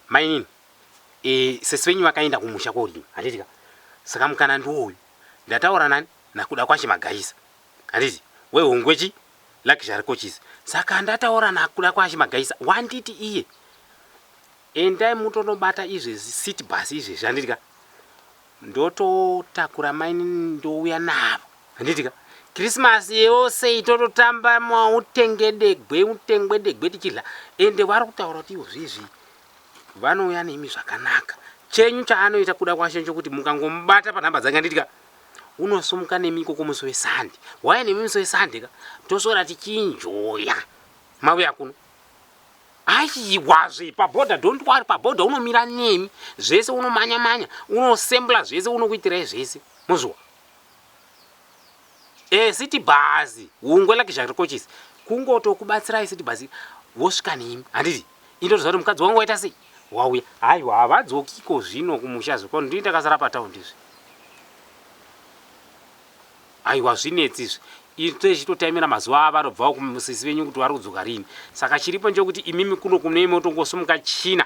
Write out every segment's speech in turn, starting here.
Mainini, eh, sesi venyu vakaenda kumusha koodini, handiti ka? Saka mukana ndiwo uyu. Ndataura nani? NaKudakwashe Magaisa. Handiti? Wehongwe chii? Luxury Coaches. Saka ndataura naKudakwashe Magaisa, wanditi iye, Endai mutonobata izvezvi city bus izvezvi, handiti ka? Ndototakura mainini ndouya navo. Handiti ka? Christmas yose itototamba mautengedegwe utengwedegwe tichidla ende vari kutaura kuti izvizvi vanouya nemi zvakanaka. Chenyu chaanoita kuda kwashe chokuti mukangomubata panhamba dzake handiti ka? Unosumuka nemi ikoko musi wesande. Wauya nemi musi wesande ka? Toswera tichinjoya. Mauya kuno. Aiwazve paboda don't worry paboda unomira nemi zvese unomanya manya unosembla zvese unokuitirai zvese mozviwa e eh, city bhazi hungwe like zvarikochisi kungotokubatsirai city bhazi wosvika nemi handiti indotoziva kuti mukadzi wangu waita sei wauya haiwa havadzokiko zvino kumusha zvekwa ndii ndakasara patown ndizvi Haiwa hazvinetsi izvi. Isu tichitotaimira mazuva avanobvawo kumusisi venyu kuti vari kudzoka rini. Saka chiripo ndechokuti imimi kuno kunei motongosimuka China.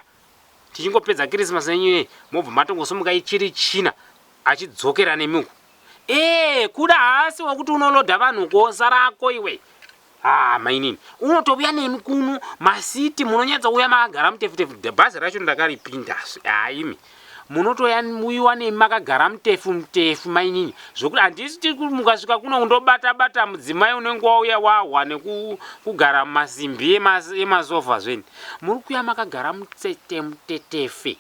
Tichingopedza Kirisimasi yenyu ineyi mobva matongosimuka ichiri China achidzokera nemi uko. Eeh kuda haasi wekuti unolodha vanhu uko sara hako iwe. Haa mainini unotouya neni kuno masiti munonyatsa uya makagara mutefutefu bhazi racho ndakaripindasu haa imi munotoya muiwa nemi makagara mutefu mutefu mainini zvokuti handisi tikumukasvika kuno undobata bata mudzimai unenge wauya wahwa nekugara masimbi emasofa zveni muri kuya makagara mutete mutetefe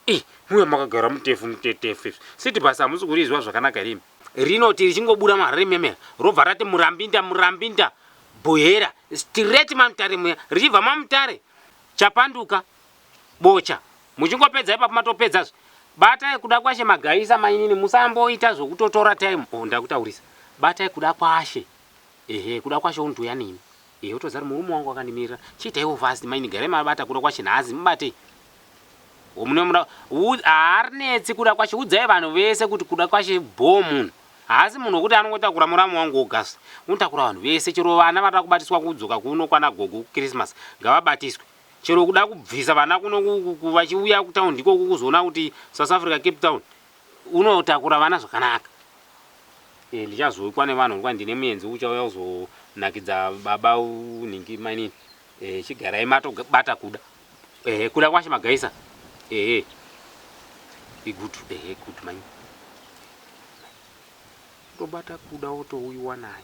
Ii mbuya makagara mutefu mutetefu izvi siti basa hamusi kurizwa zvakanaka here imi. Rinoti richingobuda marimemera robva rati murambinda murambinda bhuhera straight mamutare muya richibva mamutare chapanduka bocha muchingopedza ipapo matopedzazve batai kuda kwashe magaisa mainini musamboita zvokutotora time oh ndakutaurisa batai kuda kwashe ehe kuda kwashe unotouya neni Ehe utozari murume wangu wakandimirira chiitaiwo fast mainn garai mabata kuda kwashe nhasi mubatei wo mune muda harinetsi kuda kwashe udzai vanhu vese kuti kuda kwashe bhoo munhu haasi munhu wekuti anongotakura muramu wangu wogas unotakura vanhu vese chero vana vanoda kubatiswa kudzoka kuno kwana gogo kuchristmas ngavabatiswe chero kuda kubvisa vana kuno vachiuya kutaundi ikoko kuzoona kuti south africa cape town unotakura vana zvakanaka e, ndichazoikwa nevanhu nguva ndine muenzi uchauya kuzonakidza baba nhingi mainini e, chigarai matobata kuda e, kuda kwashe magaisa e, igutu e, gutu mainini tobata kuda wotouyiwa naye